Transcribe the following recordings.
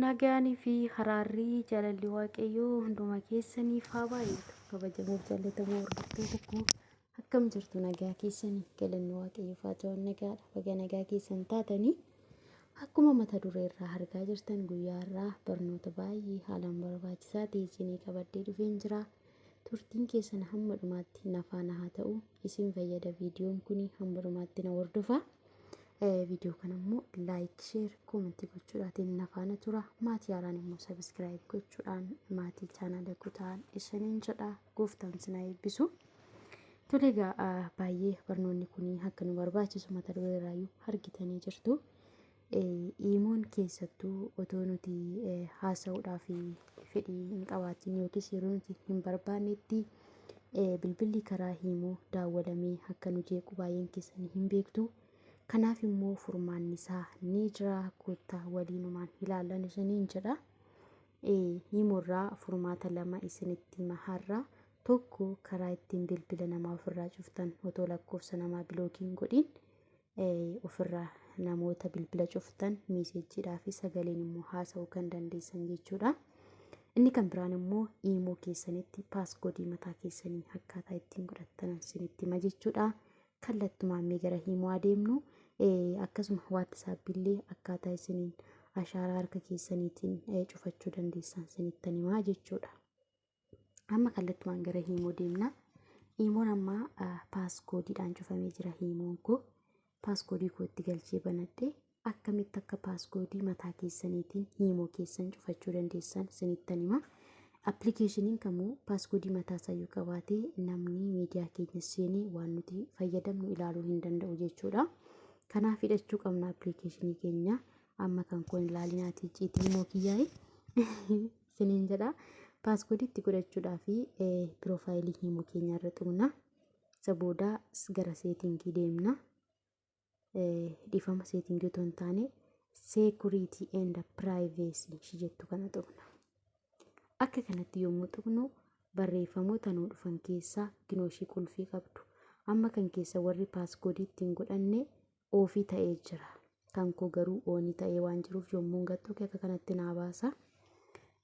Nagaanii fi haraarrii jaalalli waaqayyoo hunduma keessaniif haa baay'atu. Kabajamuuf jaallatamoo hordoftoota koo akkam jirtu nagaa keessanii galanni waaqayyoof haa ta'u nagaadha. Baga nagaa keessan taatanii akkuma mata duree irraa argaa jirtan guyyaa irraa barnoota baay'ee haalaan barbaachisaa ta'e isinii qabadhee dhufeen jira. Turtiin keessan hamma dhumaatti nafaana haa ta'u isin fayyada viidiyoon kun hamma dhumaatti na hordofaa. Viidiyoo kana immoo laayik, sheer, koomentii gochuudhaatiin na faana tura. Maatii haaraan immoo sabiskiraayib gochuudhaan maatii chaanaala kutaan isiniin jedha. Gooftaan isin haa eebbisu. Tole egaa ah, baay'ee barnoonni kun akka nu barbaachisu mata duree irraayyuu argitanii jirtu. Eh, Iimoon keessattuu otoo nuti eh, haasa'uudhaaf fedhii hin qabaatiin yookiis yeroo nuti hin barbaannetti bilbilli karaa hiimoo daawwalamee akka nu jeequ baay'een keessanii hin beektu. Kanaaf immoo furmaanni isaa ni jira koottaa waliinumaan ilaallan isiniin jedha. Hiimoorraa furmaata lama isinitti hima har'a. Tokko karaa ittiin bilbila namaa ofirraa cuftan otoo lakkoofsa namaa bilookiin godhin ofirraa namoota bilbila cuftan miiseejjiidhaa fi sagaleen immoo haasa'uu kan dandeessan jechuudha. Inni kan biraan immoo iimoo keessanitti paasgoodii mataa keessanii akkaataa ittiin godhattan isinitti hima jechuudha. Kallattumaan mee gara iimoo adeemnu akkasuma waattisaappi illee akkaataa isiniin ashaaraa harka keessaniitiin cufachuu dandeessan isinittan himaa jechuudha. Amma kallattumaan gara hiimoo deemna. Hiimoon amma paaskoodiidhaan cufamee jira hiimoon koo. Paaskoodii koo itti galchee banadhe akkamitti akka paaskoodii mataa keessaniitiin hiimoo keessan cufachuu dandeessan isinittan hima. Appilikeeshiniin kamuu paaskoodii mataa isayyuu qabaatee namni miidiyaa keenya seenee waan nuti fayyadamnu ilaaluu hin danda'u jechuudha. Kanaaf hidhachuu qabna appilikeeshinii keenya. Amma kan kun ilaalinaatii ciitii hiimoo kiyyaa'e. isiniin jedha paaskoodii itti godhachuudhaa fi piroofaayilii himu keenya irra tuqna isa booda gara seetingii deemna dhiifama seetingii otoo hin taane seekuriitii eenda piraayiveesii ishii jettu kana tuqna akka kanatti yommuu tuqnu barreeffamoota nuu dhufan keessaa ginooshii qulfii qabdu amma kan keessa warri paaskoodii ittiin godhanne oofii ta'ee jira. Kan koo garuu oonii ta'ee waan jiruuf yommuun gattoo kee akka kanatti naa baasa.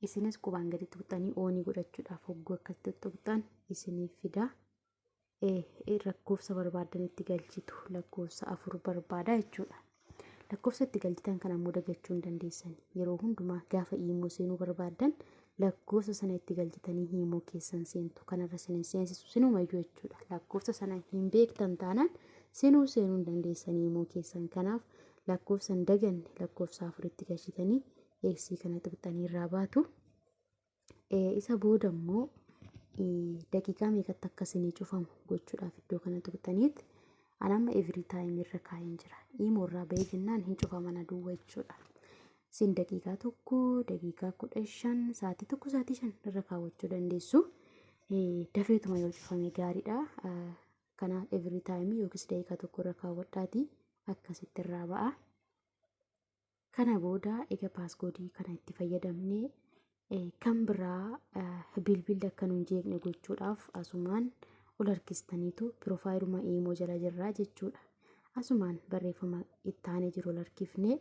Isinis qubaan gadi tuqxanii oonii godhachuudhaaf hogguu akkatti tuqxan isiniif fida. Lakkoofsa barbaaddan itti galchitu lakkoofsa afur barbaada jechuudha. Lakkoofsa itti galchitan kana ammoo dagachuu hin dandeessan. Yeroo hundumaa gaafa iimoo seenuu barbaaddan lakkoofsa sana itti galchitanii hiimoo keessan seentu kanarra sin hin seensisu sinumayyuu jechuudha lakkoofsa sana hin beektan taanaan sinuu seenuu hin dandeessan hiimoo keessan kanaaf lakkoofsa hin daganne lakkoofsa afuritti galchitanii eegsii kana tuqxanii irraa baatu isa booda immoo daqiiqaa meeqatti akka sinii cufamu gochuudhaaf iddoo kana tuqxaniitti an amma every time irra kaa'een jira hiimoo irraa ba'ee jennaan hin cufaman aduwwa jechuudha Isin daqiiqaa tokko, daqiiqaa kudha shan, sa'aatii tokko, sa'aatii shan irra kaawwachuu dandeessu. Eh, Dafeetuma yoo cufame gaariidha. Ah, Kana every time yookiis daqiiqaa tokko irra kaawwadhaati akkasitti irraa ba'a. Kana booda egaa paaskoodii kana itti fayyadamne eh, kan biraa ah, bilbilli akka nu hin jeeqne gochuudhaaf asumaan ol harkistaniitu piroofaayiluma iimoo jala jirraa jechuudha. Asumaan barreeffama itti aanee jiru ol harkifnee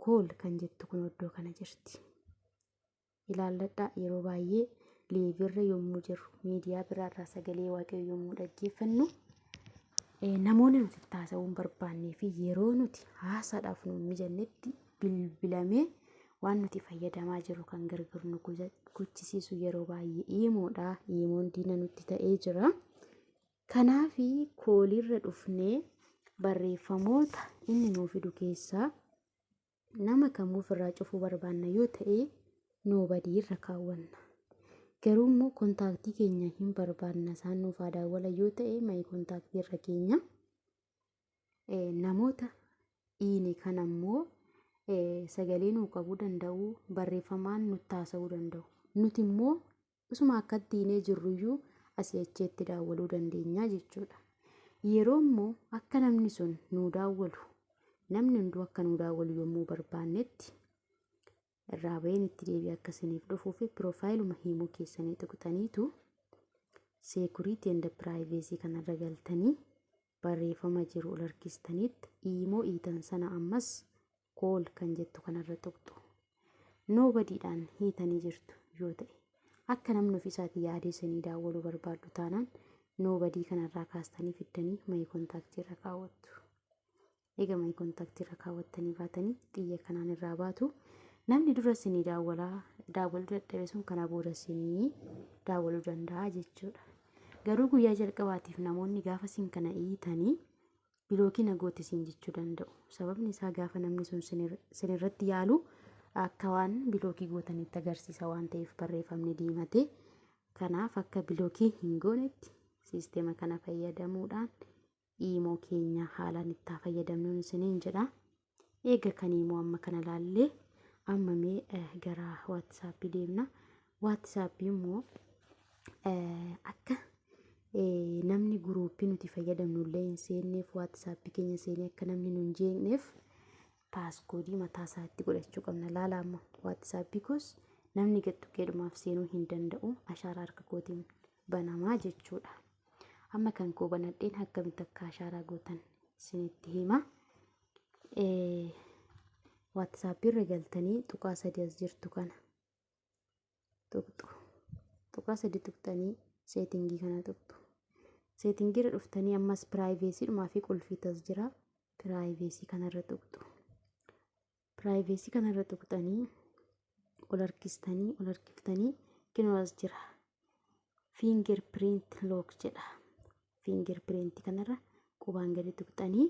kool kan jettu kun iddoo kana jirti. Ilaalladhaa yeroo baay'ee leevirra yommuu jirru miidiyaa biraarraa sagalee waaqayyoo yommuu dhaggeeffannu eh, namoonni nuti itti haasa'uu hin barbaannee fi yeroo nuti haasaadhaaf nu hin mijannetti bilbilamee waan nuti fayyadamaa jirru kan gargaru nu gochisiisu yeroo baay'ee iimoodha. Iimoon diina nutti ta'ee jira. Kanaaf kooliirra dhufnee barreeffamoota inni nuu fidu keessaa nama kamuu ofirraa cufuu barbaanna yoo ta'e noobadii irra kaawwanna. Garuu immoo kontaaktii keenya hin barbaanna isaan nuuf haa daawwala yoo ta'e mayi kontaaktii irra keenya. Namoota dhiine kan ammoo sagalee nuu qabuu danda'u barreeffamaan nutti haasa'uu danda'u. Nuti immoo Osuma akka diinee jirruyyuu asii achi itti daawwaluu dandeenya jechuudha. Yeroo immoo akka namni sun nuu daawwalu namni hunduu akka nuu daawwalu yommuu barbaannetti irraa baheen itti deebi'ee akka isiniif dhufuu fi piroofaayiluma hiimuu keessanii tuqxaniitu seekuriitii enda piraayiveesii kanarra galtanii barreeffama jiru ol harkistaniitti iimoo iitan sana ammas All kan jettu kanarra tuqxu. Nobody dhaan hiitanii jirtu yoo ta'e. Akka namni ofiisaati yaadee isinii daawwaluu barbaaddu taanaan nobody kanarraa kaastanii fiddanii my contact irra kaawwattu. Eega my contact irra kaawwattanii baatanii xiyya kanaan irraa baatu. Namni dura isinii daawwalaa daawwaluu dadhabe sun kana booda isinii daawwaluu danda'a jechuudha. Garuu guyyaa jalqabaatiif namoonni gaafa isin kana hiitanii bilookii na goote siin jechuu danda'u. Sababni isaa gaafa namni sun sin irratti yaalu akka waan bilookii gootanitti agarsiisa waan ta'eef barreeffamni diimatee. Kanaaf akka bilookii hin goonetti siisteema kana fayyadamuudhaan iimoo keenya haalaan itti fayyadamnuun isiniin jedha. eega kanii immoo amma kana laallee amma mee eh, gara waatsaappii deemna waatsaappii immoo eh, akka eh, namni guruuppii nuti fayyadamnu illee hin seenneef waatsaappii keenya seenee akka namni nu hin jeeqneef paaskoodii mataa isaatti godhachuu qabna laala amma waatsaappii koos namni gaxxuqqeedhumaaf seenuu hin danda'u ashaaraa harka kootiin banamaa jechuudha. Amma kan koo banadheen akkamitti akka ashaaraa gootan isinitti hima. WhatsApp irra galtanii tuqaa sadii as jirtu kana tuqxu. Tuqaa sadii tuqxanii seetingii kana tuqxu. Seetingii irra dhuftanii ammas piraayiveesiidhumaa fi qulfiitas jira. Piraayiveesii kanarra tuqxu. Piraayiveesii kana irra tuqxanii ol harkistanii ol harkiftanii kinoo as jira. Finger print lock jedha. Finger print kanarra qubaan gadi tuqxanii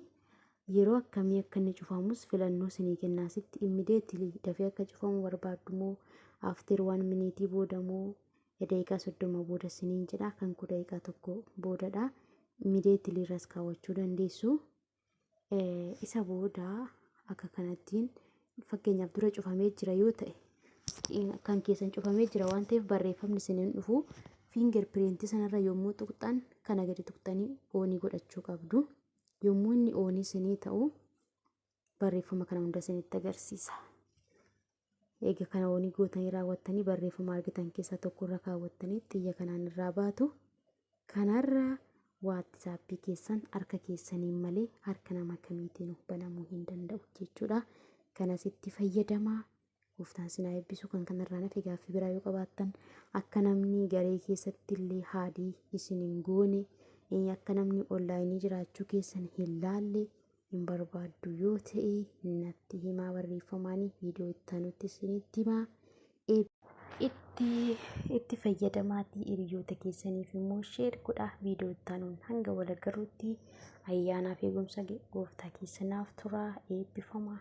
yeroo akkamii akka inni cufamus filannoo sinii kennaa sitti immediately dafee akka cufamu barbaaddu moo after one minute booda moo daqiiqaa soddoma booda siniin jedha kan koo daqiiqaa tokko boodadha immediately irras kaawwachuu dandeessu. Isa booda akka kanattiin fakkeenyaaf dura cufamee jira yoo ta'e kan keessan cufamee jira waan ta'eef barreeffamni isin hin dhufu finger print sanarra yommuu tuqxan kana gadi tuqxanii oonii godhachuu qabdu. Yommuu inni oonii isinii ta'u barreeffama kana hunda isinitti agarsiisa. Eega kana wanii gootanii raawwattanii barreeffama argitan keessaa tokko irra kaawwattanii xiyya kanaan irraa baatu. Kanarra waatsaappii keessan harka keessaniin malee harka nama kamiitiin banamuu hin danda'u jechuudha. Kanas itti fayyadamaa. Gooftaan sinaa eebbisu kan kanarraa nafe gaaffii biraa yoo qabaattan akka namni garee keessatti illee haadii isin hin goone akka namni onlaayinii jiraachuu keessan hin laalle hin barbaaddu yoo ta'e natti himaa barreeffamaan viidiyoo itti aanutti isinitti himaa. Itti itti fayyadamaatii hiriyoota keessaniif immoo sheer godhaa viidiyoo itti aanuun hanga wal agarruutti ayyaanaa fi eegumsa gooftaa keessanaaf turaa eebbifamaa.